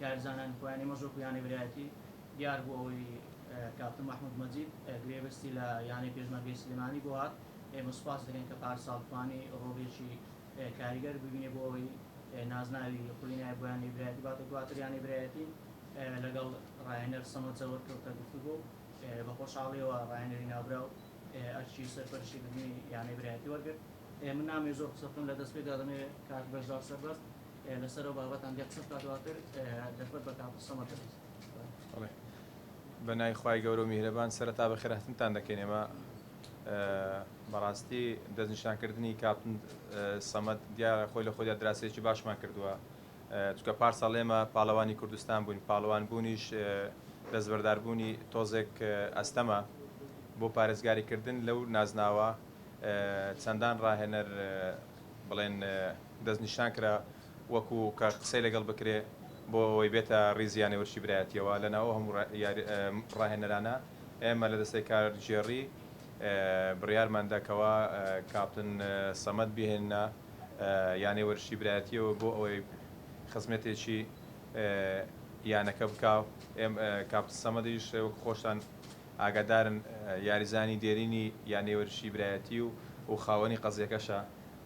کارزانانی خۆیان ئێمەش وەکو یانەی برایەتی دیار بوو ئەوەی کاپتن مەحمود مەجید گرێبەستی لە یانەی پێشمەرگەی سلێمانی بۆ هات ئێمە سوپاس دەکەین کە پارساڵ توانی ڕۆڵیەکی کاریگەر ببینێ بۆ ئەوەی نازناوی خولی نایە بۆ یانەی برایەتی باتە دواتر یانەی برایەتی لەگەڵ ڕاهێنەر سەمەد زەوەر کەوتە گفتوگۆ و بە خۆشحاڵیەوە ڕاهێنەری ناوبراو ئەرکی سەرپەرشتی کردنی یانەی برایەتی وەرگرت من نامەوێ زۆر قسە بکەم لە دەست پێدا دەمەوێ کاک بەژدار سەربەست لەسەر ئەو بابەتان گەر قسە بکات دواتر دەربەت بە کاکو سەمەد دەبێت. بەڵێ بەناوی خوای گەورە و میهرەبان سەرەتا بەخێرهاتنتان دەکەین ئێمە بەڕاستی دەستنیشانکردنی کاپتن سەمەد دیارە خۆی لە خۆیدا دراسەیەکی باشمان کردووە چکە پارساڵ ئێمە پاڵەوانی کوردستان بووین پاڵەوان بوونیش دەستبەرداربوونی تۆزێک ئەستەمە بۆ پارێزگاریکردن لەو نازناوە چەندان ڕاهێنەر بڵێن دەستنیشان کرا وەکو کە قسەی لەگەڵ بکرێ بۆ ئەوەی بێتە ڕیزی یانەی ورچی برایەتییەوە، لەناو ئەو هەموو ڕاهێنەرانە ئێمە لە دەستەی کارگێڕی بڕیارمان دا کەوا کاپتن سەمەد بهێننە یانەی ورچی برایەتییەوە بۆ ئەوەی خزمەتێکی یانەکە بکا و کاپتن سەمەدیش وەکو خۆشتان ئاگادارن یاریزانی دێرینی یانەی ورچی برایەتی و خاوەنی قەزیەکەشە.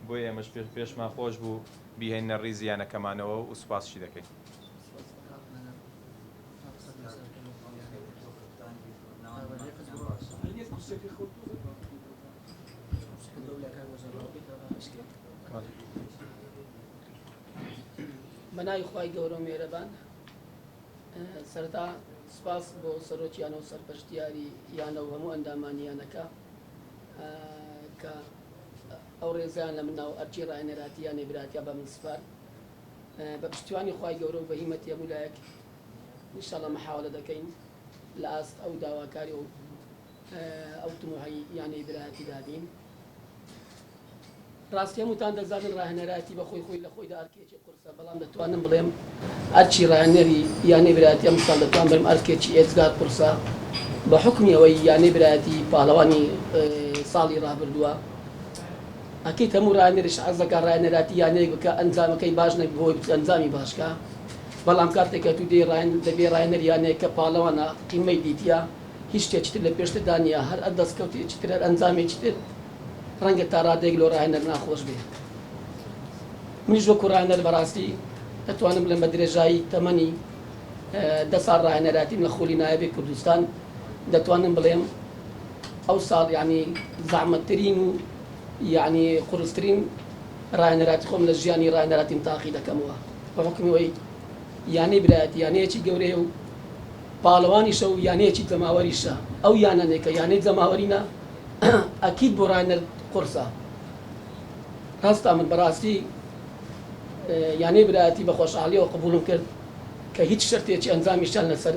بۆ ئێمەش پێشمان خۆش بوو بیهێننە ڕیزی یانەکەمانەوە و سوپاسشی دەکەین. کە ئەو ڕێزیان لە من ناو ئەرکی ڕاهێنەراتی یا نەیبراتیا بە من سپارد بە پشتیوانی خوای گەورە و بە هیمەتی هەموو لایەک انشاءاللە محاولە دەکەین لە ئاست ئەو داواکاری و ئەو تموحی یا نەیبرایەتیدا بین ڕاستی هەمووتان دەزانن ڕاهێنەرایەتی بە خۆی خۆی لە خۆیدا ئەرکێکی قورسە، بەڵام دەتوانم بڵێم ئەرکی ڕاهێنەری یانەی برایەتی ئەمساڵ دەتوانم بڵێم ئەرکێکی ئێجگار قورسە بە حوکمی ئەوەی یانەی برایەتی پاڵەوانی ساڵی ڕابردووە، ئەکید هەموو ڕاهێنەریش حەز دەکات ڕاهێنەراتی یانەیەک بکات ئەنجامەکەی باش نەبێت بۆ ئەوەی ئەنجامی باش کا، بەڵام کاتێک کە تۆ دێی ڕاهێنەر دەبێت ڕاهێنەر یانەیەک کە پاڵەوانە قیمەی دیتیە هیچ شتێکی تر لە پێشتردا نییە هەر دەستکەوتێکی تر هەر ئەنجامێکی تر. ڕەنگە تا ڕادەیەک لۆ ڕاهێنەر ناخۆش بێ منیش وەکو ڕاهێنەر بەڕاستی ئەتوانم بڵێم بە درێژایی تەمەنی دە ساڵ ڕاهێنەراتیم لە خولی نایەبی کوردستان دەتوانم بڵێم ئەو ساڵ یعنی زەحمەتترین و یعنی قورسترین ڕاهێنەراتی خۆم لە ژیانی ڕاهێنەراتیم تاقی دەکەمەوە بە حکمی وەی یانەی برایەتی یانەیەکی گەورەیە و پاڵەوانیشە و یانەیەکی جەماوەریشە، ئەو یانەنەی کە یانەی جەماوەری نا ئەکید بۆ ڕاینەر قورسە هەستا من بەڕاستی یانەی برایەتی بە خۆشحاڵیەوە قبوڵم کرد کە هیچ شەرتێکی ئەنجامیشیان لەسەر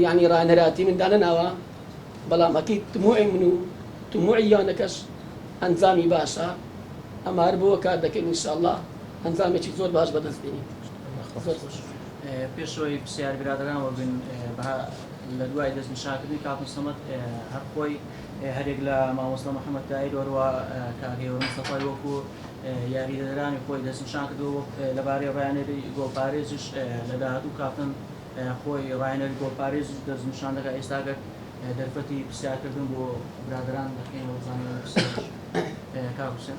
یانی ڕاینەراتی من دانەناوە بەڵام ئەکید تموعی من و تموعی یانەکەش ئەنجامی باشە ئەمە هەر بۆوە کار دەکەین ان شاء اللە ئەنجامێکی زۆر باش بەدەست بینین زۆر خۆش. پێش ئەوەی پرسیار برادەران وەبن بە لە دوای دەست نیشاکردنی کاکم سەمەد هەر خۆی هەرێک لە مامۆستا محەممەد تایر وەروە کاگەێوە مستەفای وەکو یاریدەدرانی خۆی دەست نیشان کردەوە لەبارەی ڕیانێری گۆڵپارێزیش لە داهاتوو کاپتن خۆی ڕایەنەری گۆڵپارێز دەست نیشان دەکە ئێستاگەر دەرفەتی پرسیارکردن بۆ برادران دەکەینەوە زانانی پرسیار کاکوسێن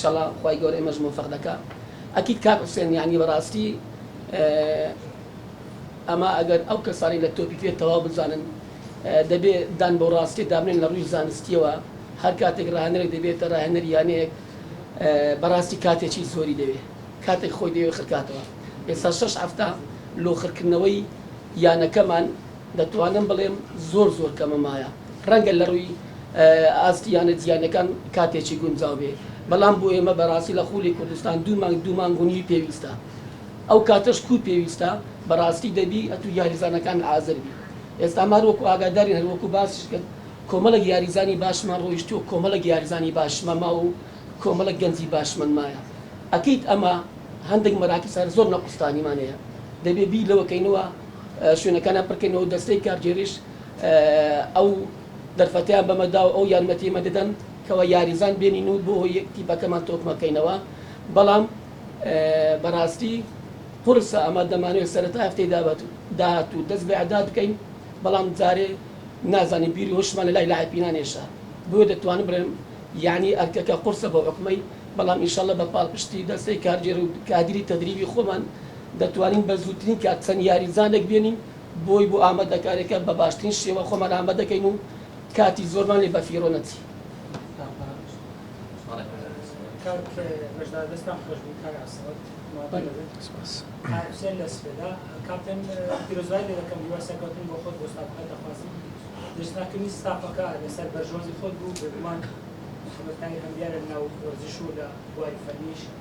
شەڵا خوای گەورە ئێمەش مۆفەق دەکا ئەکید کاک حوسێن یانی بەڕاستی ئەما ئەگەر ئەو کەسانی لە تۆپی پێ تەواو بزانن دەبێ دان بەو ڕاستیە دابنێن لە ڕووی زانستیەوە هەر کاتێک ڕاهێنەرێک دەبێتە ڕاهێنەر یانەیەک بەڕاستی کاتێکی زۆری دەوێ کاتێک خۆی دەوێ خرکاتەوە ئێستا شەش هەفتە لۆخرکردنەوەی یانەکەمان دەتوانم بڵێم زۆر زۆر کەمە مایە ڕەنگە لەڕووی ئاستی یانە جیانەکان کاتێکی گونجاو بێ بەڵام بۆ ئێمە بەڕاستی لە خولی کوردستان دوو مانگ دوو مانگ و نیوی پێویستە ئەو کاتەش کوو پێویستە بەڕاستی دەبی ئەتوو یاریزانەکان حازر بی ئێستا مار وەکو ئاگادارین هەر وەکو باسیش کرد کۆمەڵێک یاریزانی باشمان ڕۆیشتووە کۆمەڵێک یاریزانی باشمان ماوە و کۆمەڵێک گەنجی باشمان مایە ئەکید ئەمە هەندێک مەراکیز هەر زۆر نەقوستانیمان هەیە دەبێ بیر لەوە کەینەوە شوێنەکانیان پڕکەینەوەو دەستەی کارگێریش ئەو دەرفەتەیان بەمە داو ئەو یارمەتیەمە دەدەن کەوا یاریزان بێنین و بۆ تیپەکەمان تۆکمە کەینەوە بەڵام بەڕاستی قوڕسە ئەمە دەمانەوێت سەرەتای هەفتەی داهاتوو دەست بە ئیعداد بکەین بەڵام جارێ نازانین بیری هۆشمان لەلای لاعیپینان هێشا بۆیە دەتوانم بڵێم یانی ئەرکەکە قوڕسە بۆ ئۆکمەی بەڵام ئینشاللە بە پاڵپشتی دەستەی کارگێرو کادیری تەدریبی خۆمان دەتوانین بە زووترین کات چەند یاریزانێک بێنین بۆی بۆ ئامادەکارییەکە بە باشترین شێوە خۆمان ئامادەکەین و کاتی زۆرمان لێ بەفیڕۆ نەچی.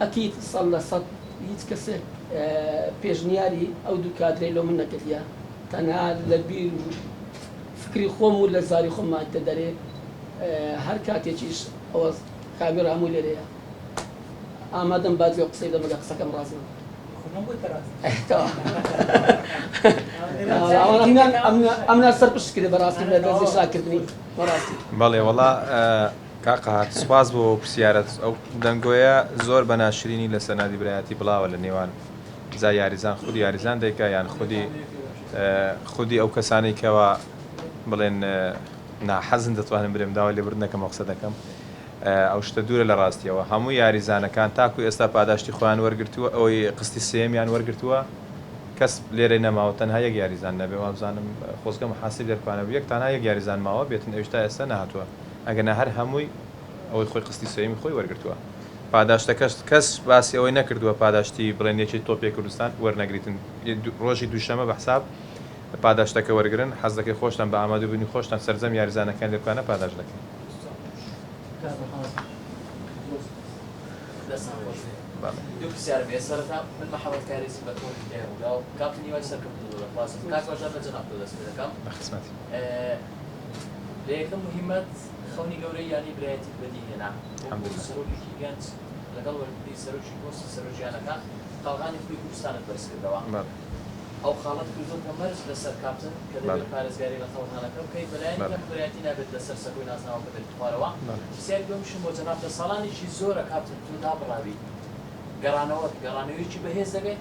ئەکید سەد لە سەد هیچ کەسێک پێشنیاری ئەو دوو کادرەی لۆ من نەکردیە تەنها لە بیر و فکری خۆم و لە زاری خۆم مایکتە دەرێ هەر کاتێکیش ئەوە کاوی رامو لێرەیە ئامادەم با جوێ قسەی دەم ئەگەر قسەکەم راست نەبوو خۆ نەم گوت کە راست نیە ئەمنا سەر پشت کرێ بەراستی لە دەزی شاکردنی بەراستی. بەڵێ وەڵا. کاک قەهات سوپاس بۆ پرسیارەت ئەو دەنگۆیە زۆر بە ناشرینی لە سەرنادی برایەتی بڵاوە لە نێوان جا یاریزان خودی یاریزان دەیکا یان خودی خودی ئەو کەسانەی کەوا بڵێن ناحەزن دەتوانم برێم داوا لێبرد نەکەمەوە قسە دەکەم ئەو شتە دوورە لە ڕاستیەوە هەموو یاریزانەکان تاکو ئێستا پاداشتی خۆیان وەرگتووە ئەوەی قستی سێمیان وەرگتووە کەس لێرەی نەماوە تەنها یەک یاریزان نەبێ وابزانم خۆزگە محاسب دەرکوانەبوو یەک تانە یەک یاریزان ماوە بێتن ئەویش تا ئێستا نەهاتووە. ئەگەرنا هەر هەمووی ئەوەی خۆی قستی سێیەمی خۆی وەرگرتووە پاداشتەکەشت کەس باسی ئەوەی نەکردووە پاداشتی بڵێن یەکێی تۆپی کوردستان وەرنەگریتن ڕۆژی دووشەمە بە حساب پاداشتەکە وەرگرن حەز دەکەی خۆشتان بە ئامادە بوونی خۆشتان سەرجەم یاریزانەکان لێ بکانە پاداشت دەکەین. لە یەکەم مهمەت خەونی گەورەی یانەی برایەتیت بەدی هێنا وەکو سەرۆکێکی گەنج لەگەڵ وەرگری سەرۆکی پۆستی سەرۆکیانەکان قەڵغانی خووی کوردستانت بەرزکردەوە ئەو خاڵەت کردووە کە مەرج لەسەر کاپتن کە دەبێت پارێزگاری لە قەڵغانەکە بکەیت بەلایەنی کەم برایەتی نابێت لەسەر سەکۆی نازناوەکە بێتە خوارەوە پرسیاری دووەمیشم بۆ جەنابتە ساڵانێکی زۆرە کاپتن تۆ دابڕاویت گەڕانەوەت گەڕانەوەیەکی بەهێز دەبێت؟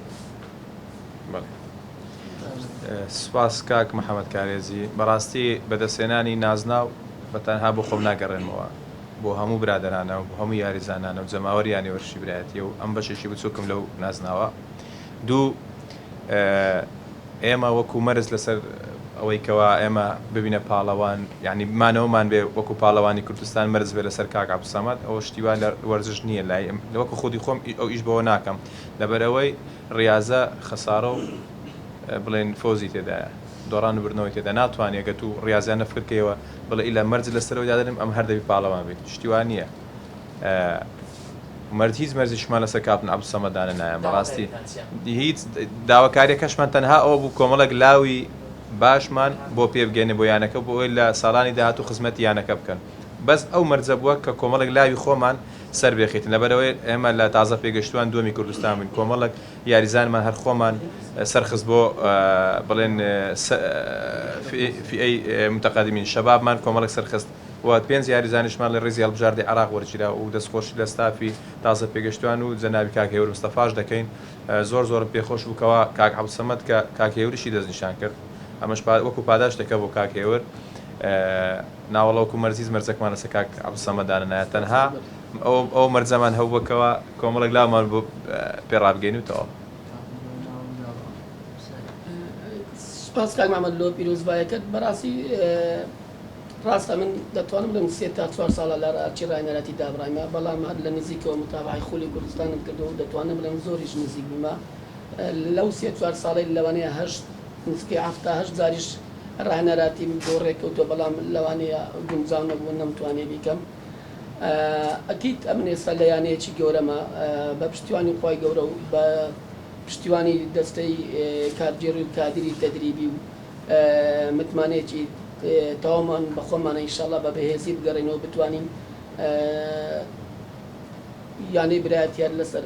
سپاس کاک محمد کارێزی بەڕاستی بەدەستهێنانی نازناو بە تەنها بۆ خۆم ناگەڕێنمەوە بۆ هەموو برادەرانە و بۆ هەموو یاریزانانە و جەماوەریانی وەرشی برایەتیە و ئەم بەشێکی بچوکم لەو نازناوە دوو ئێمە وەکو مەرز لەسەر ئەوەی کەوا ئێمە ببینە پاڵەوان یعنی بمانەوەمان بێ وەکو پاڵەوانی کوردستان مەرز بێ لەسەر کاک عبدسەمەد ئەوە شتیوا لە وەرزش نییە لای وەکو خودی خۆم ئەو ئیش بەوە ناکەم لەبەرەوەی ریازە خەسارە و بڵێن فەوزی تێدایە دۆڕان و بردنەوەی تێدا ناتوانی گەر تو ریازیانە فکر کەیەوە بڵێ ئیلا مەرج لە سەرەوەی دادەنێم ئەم هەر دەبی پاڵەوان بیت شتی وا نیە مەرج هیچ مەرجیشمان لەسەر کاپتن عەبدولسەمەد دانەنایە بەڕاستی هیچ داواکاریەکەشمان تەنها ئەوە بوو کۆمەڵێک لاوی باشمان بۆ پێ بگەینە بۆ یانەکە بۆ ئەوەی لە ساڵانی داهاتوو خزمەتی یانەکە بکەن بەس ئەو مەرجە بووە کە کۆمەڵێک لاوی خۆمان سەربێخیتن لەبەرئەوەی ئێمە لە تازە پێگەشتوان دووەمی کوردستان بووین کۆمەڵەک یاریزانمان هەر خۆمان سەرخست بۆ بڵێن فئەی متەقەدمین شەبابمان کۆمەڵەک سەرخست و پێنج یاریزانیشمان لە ریزی هەڵبژاردەی عێراق وەرگیرا و دەست خۆشی لە ستافی تازە پێگەشتوان و جەنابی کاک هێور مستەفاش دەکەین زۆر زۆرم پێ خۆش بوو کەوا کاک عەبدسەمەد کە کاک هێوریشی دەست نیشان کرد ئەمەش وەکو پاداشتێکە بۆ کاک هێور. ناوەڵا وەکو مەرزیز مەرجەکمان لەسەر کاک عبدالصمد دانەنایە تەنها ئەوە مەرجەمان هەبووە کەوا کۆمەڵێک لامان بۆ پێ ڕابگەین و تەواو. سوپاس کاک محمد لۆ پیرۆزبایەکەت بەڕاستی ڕاستە من دەتوانم لەم سێ تا چوار ساڵە لەر ئارچی ڕاینەراتی دابڕایمە بەڵام هەر لە نزیکەوە متابەعەی خولی کوردستانم کردوە و دەتوانم بڵێم زۆریش نزیک بوومە لەو سێ چوار ساڵەی لەوانەیە هەشت نزیکەی حەفتا هەشت جاریش ڕاهێنەرا تیمم بۆ ڕێککەوتووە بەڵام لەوانەیە گونجاو نەبوو نەمتوانێ بیکەم ئەکید ئەمن ئێستا لە یانەیەکی گەورەمە بە پشتیوانی خوای گەورە و بە پشتیوانی دەستەی کارگێڕی و کادری تەدریبی و متمانەیەکی تەواومان بە خۆمانە ان شاءاللە بە بەهێزی بگەڕێینەوە بتوانین یانەی برایەتییە لەسەر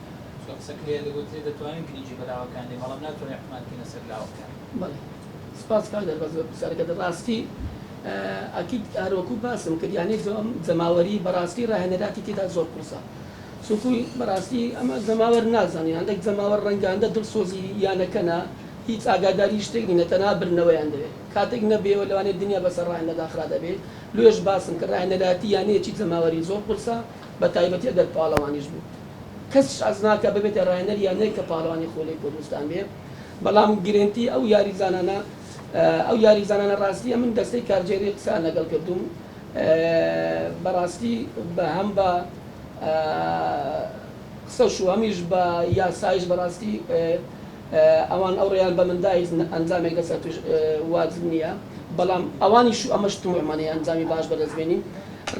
چۆن قسە کرێ دەگوترێ دەتوانین گرینگی بە لاوەکان دەین بەڵام ناتوانین حکومان بکەینە سەر لاوەکان. بەڵێ سپاس کاک دار بەس پرسیارەکە دە ڕاستی ئەکید هەر وەکو باسم کرد یانێ زۆم جەماوەری بە ڕاستی ڕاهێنەراتی تێدا زۆر قورسە چونکو بە ڕاستی ئەمە جەماوەر نازانێ هەندەک جەماوەر ڕەنگاندە دڵسۆزی یانەکەنە هیچ ئاگاداری شتێک نینە تەنها بردنەوەیان دەوێ کاتێک نەبێەوە لەوانێ دنیا بەسەر ڕاهێنەدا خرا دەبێ لۆیەش باسم کرد ڕاهێنەراتی یانەیەکی جەماوەری زۆر قورسە بە تایبەتی ئەگەر پاڵەوانیش بوو. کەسیش حەز ناکات ببێتە راهێنەری یانەیەک کە پاڵەوانی خولەی کوردستان بێ، بەڵام گرێنتی ئەو یاریزانانە ئەو یاریزانانە راستییە من دەستەی کارگێڕی قسەیان لەگەڵ کردووم بەڕاستی بە هەم بە قسەش و هەمیش بە یاسایش بەڕاستی ئەوان ئەو ڕێیان بە من داهیزن ئەنجامێک لەسەر پشت واجب نییە بەڵام ئەوانیش و ئەمەش طموحمانەیە ئەنجامی باش بەدەست بێنین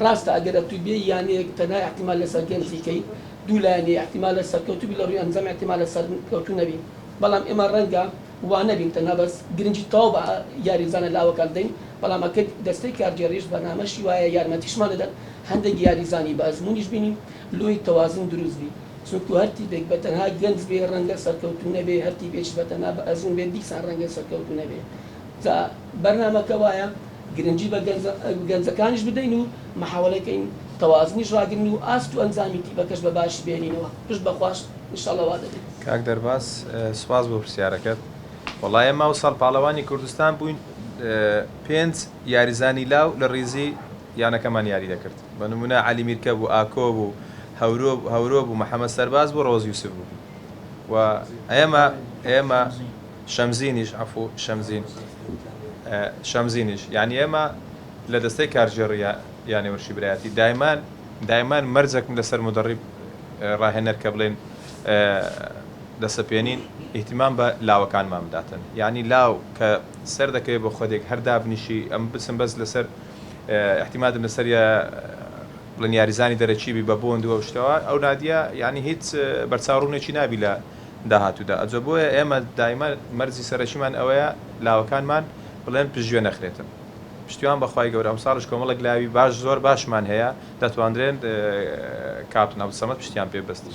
ڕاستە ئەگەر ئەتوو بێی یانەیەک تەنها ئیحتیمال لەسەر گەنجی کەی دوو لایەنی ئیحتیمالە سەرکەوتوو بی لەڕووی ئەنجام ئیحتیمالە سەرکەوتوو نەبی بەڵام ئێمە ڕەنگە وانەبین تەنها بەس گرنگی تەواو بە یاریزانە لاوەکان دەین بەڵام ئەکرد دەستەی کارگێڕیش بەرنامەشی وایە یارمەتیشمان دەدەن هەندێک یاریزانی بەئەزموونیش بینین لۆیی تەوازن دروست بی. چونکو هەر تیپێک بە تەنها گەنج بێ رەنگە سەرکەوتوو نەبێ هەر تیپێکیش بە تەنها بە ئەزموون بێ دیسان رەنگە سەرکەوتوو نەبێ جا بەرنامەکە وایە گرنگی بە گەنجەکانیش بدەین و محاوەلە کەین تەوازنیش راگرن و ئاست و ئەنجامی تیپەکەش بە باشی بهێنینەوە پشت بە خواش ان شاء اللە وا دەبێت. کاک دەرباز سوپاس بۆ پرسیارەکەت وەڵا ئێمە ئەوساڵ پاڵەوانی کوردستان بووین پێنج یاریزانی لاو لە ڕیزی. یانەکەمان یاری دەکرد بە نمونە عەلی میرکە بوو ئاکۆ بوو هەورۆ هەورۆ بوو محەمەد سەرباز بوو ڕەوەز یوسف بوو و ئێمە ئێمە شەمزینیش عەفوو شەمزین شەمزینیش یانی ئێمە لە دەستەی کارگێڕی یا یانە ورشیبرایەتی دایمان دایمان مەرجەکم لەسەر مودەڕیب ڕاهێنەر کە بڵێن دەسەپێنین ئیهتیمام بە لاوەکانمان بداتن یانی لاو کە سەر دەکەوێ بە خودێک هەر دابنیشی ئەم بچم بەس لەسەر ئیحتیمادم لەسەریە بڵێن یاریزانی دەرەکی بی بە بۆند و ئەو شتەوە ئەو نادیە یانی هیچ بەرچاو ڕوونێکی نابی لە داهاتوودا ئەجۆ بۆیە ئێمە دایمە مەرجی سەرەکیمان ئەوەیە لاوەکانمان بڵێن پشتگوێ نەخرێتن پشتیوان بەخوای گەورە ئەمساڵش کۆمەڵێک لاوی باش زۆر باشمان هەیە دەتواندرێن کاپتن عبدالصمد پشتیان پێ بەستین.